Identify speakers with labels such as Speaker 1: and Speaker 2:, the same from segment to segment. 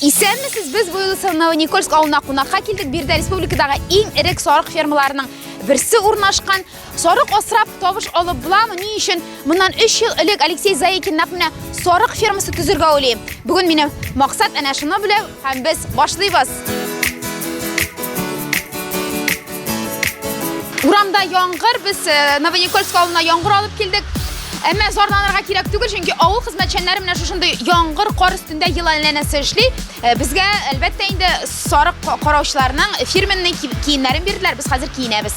Speaker 1: Исәнмесез, без Буйлы Сылнау Никольск авылына кунакка килдек. Бирдә республикадагы иң эрек сарык фермаларының берсе урнашкан Сарык асрап тавыш алып буламы? Ни өчен моннан 3 ел элек Алексей Заикин нәкъ менә сарык фермасы төзергә уйлый? Бүген минем максат әнә шуны белән һәм без башлыйбыз. Урамда яңгыр, без э, Новоникольск авылына яңгыр алып килдек. Әмма зарланырга кирәк түгел, чөнки авыл хезмәтчәннәре менә шушындый яңгыр, кар өстендә ел әйләнәсе эшли. Э, безгә, әлбәттә, инде сарык караучыларның фирменный киемнәрен бирделәр, без хәзер киенәбез.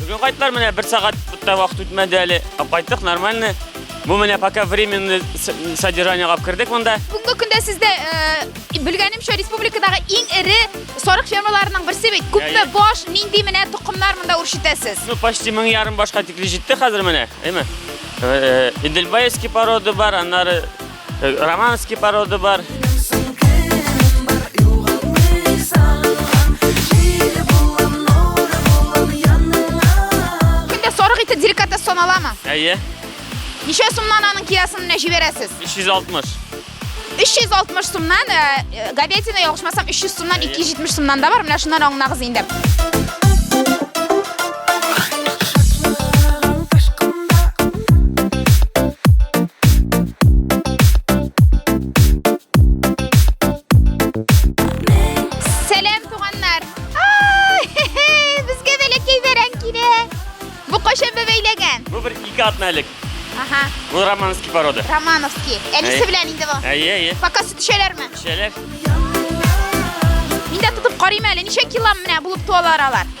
Speaker 1: Бүген кайттылар, менә
Speaker 2: бер сәгать тә вакыт үтмәде әле. Кайттык нормально. Бу менә пока временный содержание алып кердек монда. Бүгенге көндә сездә э,
Speaker 1: белгәнемчә республикадагы иң эре сарык фермаларының берсе бит. Күпме баш, нинди менә тукымнар монда үрчетәсез? Ну, почти 1000 ярым
Speaker 2: башка тикле җитте хәзер менә, әйме? Э, Идельбаевский порода бар, аннары Романский породы бар.
Speaker 1: Күндә сарык ите деликатес саналамы? Әйе.
Speaker 2: Ничә
Speaker 1: сумнан аның киләсен менә җибәрәсез? 360. 360
Speaker 2: сумнан,
Speaker 1: э, э, говядина ялгышмасам 300 сумнан 270 сумнан да бар. Менә шуннан аңлагыз инде. романовский порода. Романовский.
Speaker 2: Әнисе
Speaker 1: белән инде бу. Әйе, әйе. Пока сөт
Speaker 2: эчәләрме?
Speaker 1: Эчәләр. Мин дә тотып карыйм әле, ничә килам менә булып туалар алар.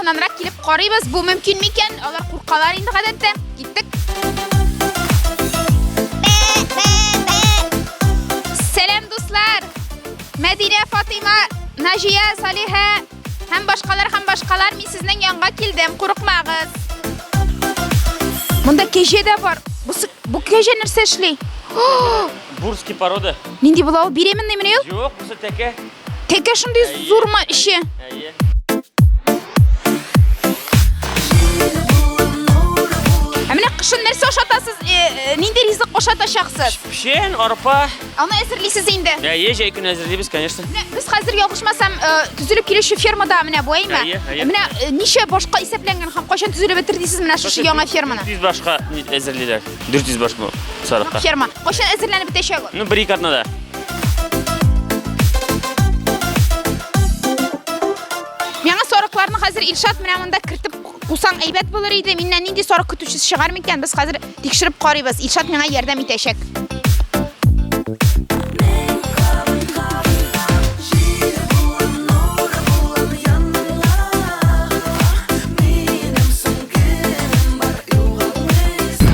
Speaker 1: якыннанрак килеп карыйбыз. Бу мөмкин микән? Алар куркалар инде гадәттә. Киттек. Сәлам дуслар. Мәдинә, Фатыйма, Наҗия, Салиха, Һәм башкалар һәм башкалар мин сезнең янга килдем, курыкмагыз. Монда кәҗә дә бар. Бу бу кәҗә нәрсә эшли?
Speaker 2: Бурский порода. Нинди була ул? Беременный
Speaker 1: мени ул? Юк, бу тәкә.
Speaker 2: Тәкә шундый
Speaker 1: зурма ише. Әйе. Ә менә кышын нәрсә ашатасыз? Э, э, нинди ризык ашатачаксыз? Пшен, арпа,
Speaker 2: Аны әзерлисез
Speaker 1: инде. Әйе, җәй көне әзерлибез,
Speaker 2: конечно. Без хәзер ялгышмасам,
Speaker 1: э, төзелеп килүче фермада менә бу әйме. Әйе, әйе. Менә э, ничә
Speaker 2: башка
Speaker 1: исәпләнгән һәм кайчан төзелеп бетер дисез менә шушы яңа ферманы? 400 башка
Speaker 2: әзерлиләр. 400 баш бу сарыкка. Ферма. Кайчан әзерләнеп
Speaker 1: бетәчәк ул? Ну, бер ике атнада. Яңа сарыкларны хәзер Илшат менә монда кертеп Кусаң әйбәт булыр иде. Миннән нинди сарык көтүчесе чыгар микән? Без хәзер тикшереп карыйбыз. Илшат миңа ярдәм итәчәк.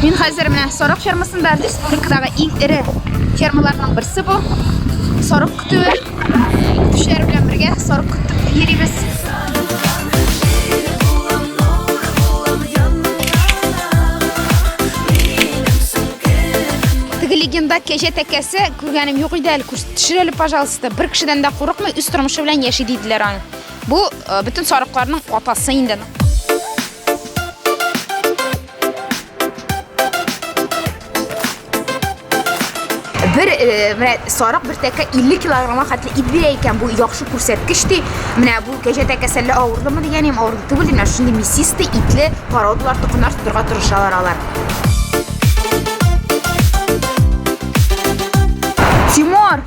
Speaker 1: Мин хәзер менә сарык фермасында республикадагы иң эре фермаларның берсе бу. Сарык көтүе. Көтүчеләр белән бергә сарык көтеп йөрибез. легенда кәҗә тәкәсе күргәнем юк иде әле төшер әле пожалуйста бер кешедән дә курыкмый үз тормышы белән яши диделәр аны бу э, бөтен сарыкларның атасы инде bir e, менә сарык бер тәкә 50 килограммга хәтле ит бирә икән бу яхшы күрсәткеч ди менә бу кәҗә тәкәсәлле авырдымы дигәнем авырды түгел ди менә шундый мясистый итле породалар токымнар тотырга тырышалар алар Тимур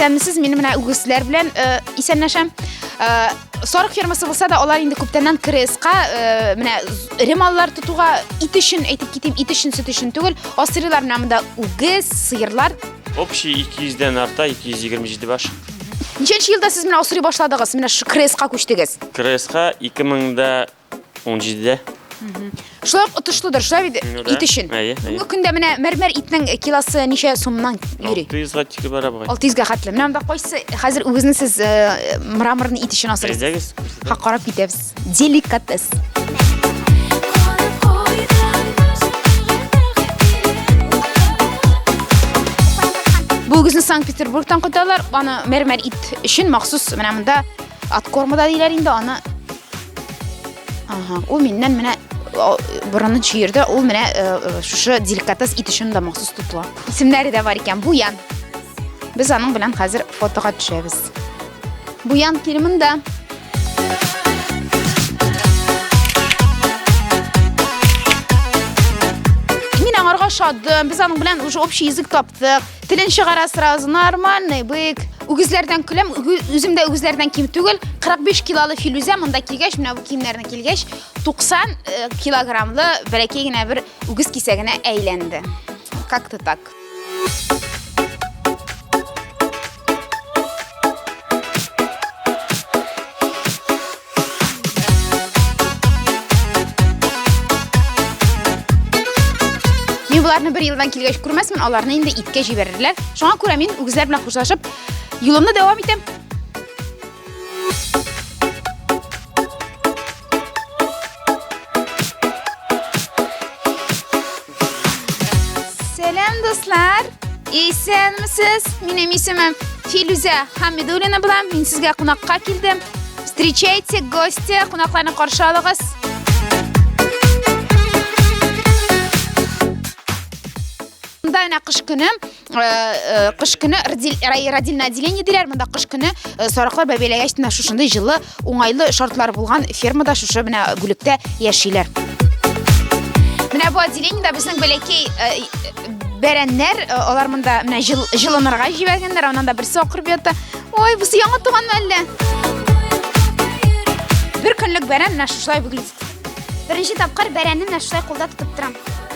Speaker 1: исәнмесез мин менә үгезләр белән э, исәнләшәм э, сарык фермасы булса да алар инде күптәннән креска э, менә эре маллар тотуга ит өчен әйтеп китим ит өчен сөт өчен түгел асрыйлар менә монда үгез сыерлар общий ике
Speaker 2: йөздән арта ике йөз егерме җиде баш ничәнче елда
Speaker 1: сез менә асрый башладыгыз менә шу креска күчтегез креска ике
Speaker 2: меңдә 17-дә. Шулай ук
Speaker 1: отышлыдыр, шулай бит Ну да. ит өчен. Әйе, әйе. Бүгенге көндә менә мәрмәр итнең килосы ничә сумнан йөри? 600-га тике бара
Speaker 2: бугай. 600-га хәтле. Менә монда
Speaker 1: кайсы хәзер үзегезне сез э, мраморны ит өчен асырасыз? Әйдәгез. күрсәтәм. Ха карап китәбез. Деликатес. Бүгезне Санкт-Петербургтан кайталар. Аны мәрмәр ит өчен махсус менә монда откормада диләр инде аны Ага, ул миннән менә борынын чөерде, ул менә шушы деликатес ит өчен дә махсус тотыла. Исемнәре дә бар икән, Буян. Без аның белән хәзер фотога төшәбез. Буян килмин дә. Мин аңарга шатдым. Без аның белән уже общий язык таптык. Телен чыгара сразу, нормальный, бык. Үгезләрдән көләм, үзем дә үгезләрдән ким түгел. 45 килолы Филүзә монда килгәч, менә бу киемнәрне килгәч, 90 э, килограммлы бәләкәй генә бер үгез кисәгенә әйләнде. Как-то так. Мин боларны бер елдан килгәч күрмәсмен, аларны инде иткә җибәрерләр. Шуңа күрә мин үгезләр белән хушлашып, юлымны дәвам итәм. Сәлам, дуслар! Исәнмесез! Минем исемем Филүзә Хамидуллина булам. Мин сезгә кунакка килдем. Встречайте гости, кунакларны каршы алыгыз. Монда әнә кыш көне кыш көне родильное отделение диләр монда кыш көне сарыклар бәбиләгәч менә шушындый җылы уңайлы шартлар булган фермада шушы менә бүлектә яшиләр менә бу отделениедә безнең бәләкәй бәрәннәр алар монда менә җылынырга җибәргәннәр аннан да берсе акырып ята ой бусы яңа туганмы әллә бер көнлек бәрән менә шушылай выглядит беренче тапкыр бәрәнне менә шулай кулда тотып торам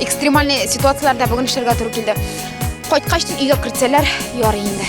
Speaker 1: Экстремальный ситуацияләрдә бүген эшләргә туры килде. Кайткач тик өйгә кертсәләр, ярый инде.